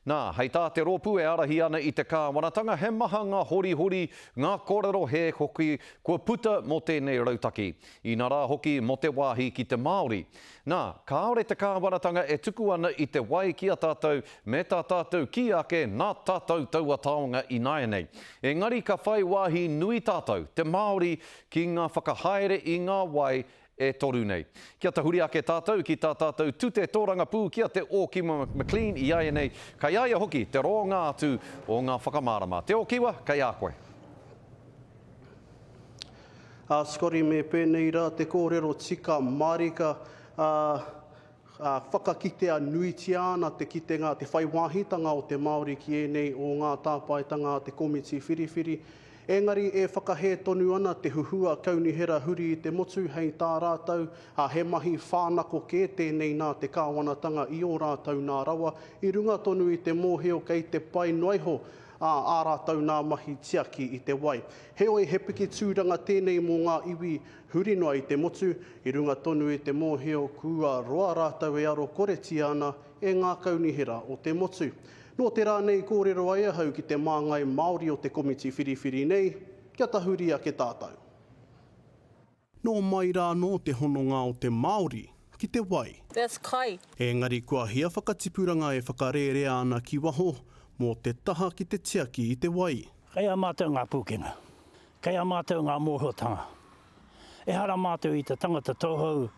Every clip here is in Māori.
Nā, hei tā te rōpū e ārahi ana i te kāwanatanga, he maha ngā horihori, ngā kōrero hē hoki kua puta mō tēnei rautaki, ina rā hoki mō te wāhi ki te Māori. Nā, kāore te kāwanatanga e tuku ana i te wai ki a tātou me tā tātou kī ake nā tātou taua taonga ināianei. Engari ka whai wāhi nui tātou, te Māori, ki ngā whakahaere i ngā wai e toru nei. Kia tahuri ake tātou ki tā tātou tute tōrangapū ki a Te Ōkiwa McLean iaianei kei a ia hoki te roonga atu o ngā whakamārama. Te Ōkiwa, kei a koe. Ā Scotty me pēnei rā te kōrero tika mārika, ā, Ka whakakitea nuitia ana te kitenga, te whai wāhitanga o te Māori ki ēnei o ngā tāpaetanga a te komiti whiriwhiri, engari e whakahē tonu ana te huhua kaunihera huri i te motu hei tā rātou, ā, he mahi whānako kē tēnei nā te kāwanatanga i ō rātou nā rawa, i runga tonu i te mōhio kei te pai noa iho a ā rātou nā mahi tiaki i te wai. Heoi, he piki tūranga tēnei mō ngā iwi Huri noa i te motu, i runga tonu i te mōhio kua roa rātou e aro koretia ana e ngā kaunihera o te motu. Nō te rā nei i kōrero ai ahau ki te māngai Māori o te komiti whiriwhiri nei, kia tahuri ake tātou. Nō mai rā anō te hononga o te Māori ki te wai. That's kai. Engari kua hia whakatipuranga e whakarērea ana ki waho mō te taha ki te tiaki i te wai? Kai a mātou ngā pūkenga. Kei a mātou ngā mōhiotanga. Ehara mātou i te tangata tauhou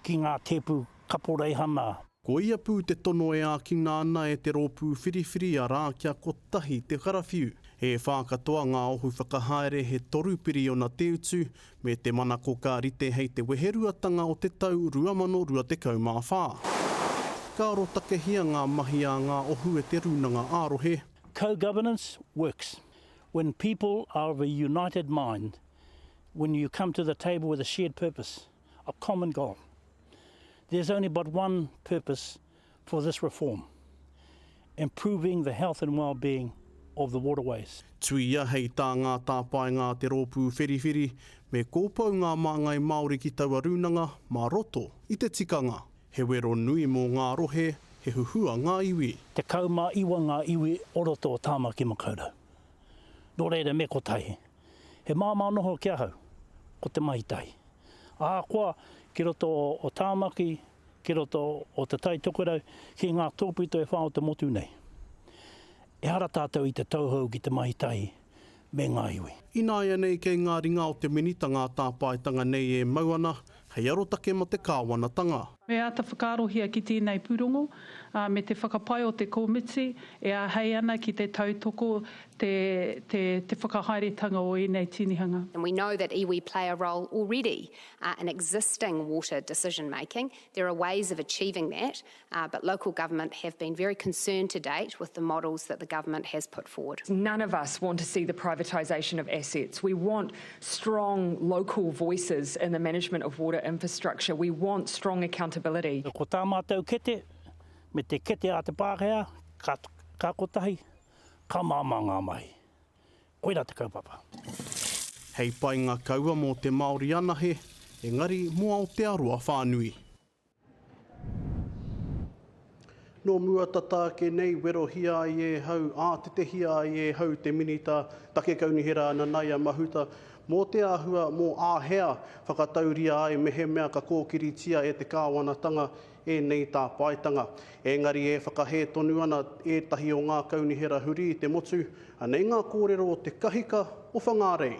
ki ngā tēpu kaporeihana. Koia pū te tono e ākina ana e te rōpū whiriwhiri arā kia kotahi te karawhiu. He whā katoa ngā ohu whakahaere he toru piriona te utu me te manako ka rite hei te weheruatanga o te tau 2024. Ka arotakehia ngā mahi a ngā ohu e te Rūnanga ā-Rohe. Co-Governance Works. When people are of a united mind, when you come to the table with a shared purpose, a common goal, there's only but one purpose for this reform, improving the health and well-being of the waterways. Tuia hei tā ngā tāpaenga a te Rōpū Whiriwhiri, me kōpou ngā māngai Māori ki taua rūnanga mā roto i te tikanga. He wero nui mō ngā rohe, he huhua ngā iwi. Tekau mā iwa ngā iwi o roto o Tāmaki Makaurau. Nō reira me kotahi, he māmā noho ki ahau, ko Te Mahi Tahi. Ahakoa ki roto o Tāmaki, ki roto o Te Tai Tokerau, ki ngā tōpito e whā o te motu nei. Ehara tātou i te tauhou ki Te Mahi Tahi me ngā iwi. Ināianei kei ngā ringa o te Minita ngā tāpaetanga nei e mau ana hei arotake mō te kāwanatanga. Me āta whakaarohia ki tēnei pūrongo, ā, me te whakapae o te komiti e āhei ana ki te tautoko te, te, te whakahaeretanga o ēnei tinihanga. And we know that iwi play a role already in existing water decision-making. There are ways of achieving that. but local government have been very concerned to date with the models that the government has put forward. None of us want to see the privatisation of assets. We want strong local voices in the management of water infrastructure. We want strong accountability. Ko tā mātou kete, me te kete a te Pākehā, ka, ka kotahi, ka māmā ngā mahi. Koira te kaupapa. Hei painga kaua mō te Māori anahe, engari mō Aotearoa whānui. Nō mua tata ake nei, werohia ai e hau, ātetehia ai e hau te Minita Take Kaunihera Nanaia Mahuta mō te āhua mō āhea whakatauria ai mehemea ka kōkiritia e te Kāwanatanga ēnei tāpaetanga. Engari e whakahē tonu ana ētahi o ngā kaunihera huri i te motu, anei ngā kōrero o Te Kahika o Whangārei.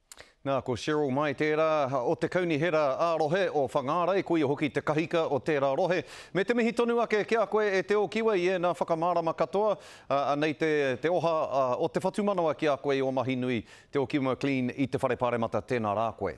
Nā, ko Cheryl Mai tērā, o te Kaunihera ā-Rohe o Whangārei, koia hoki te kahika o tērā rohe. Me te mihi tonu ake ki a koe e Te Ōkiwa i ēnā whakamārama katoa, ā, anei te, te oha o te whatumanawa ki a koe i ō mahi nui, Te Ōkiwa McLean i te Whare Pāremata, tēnā rā koe.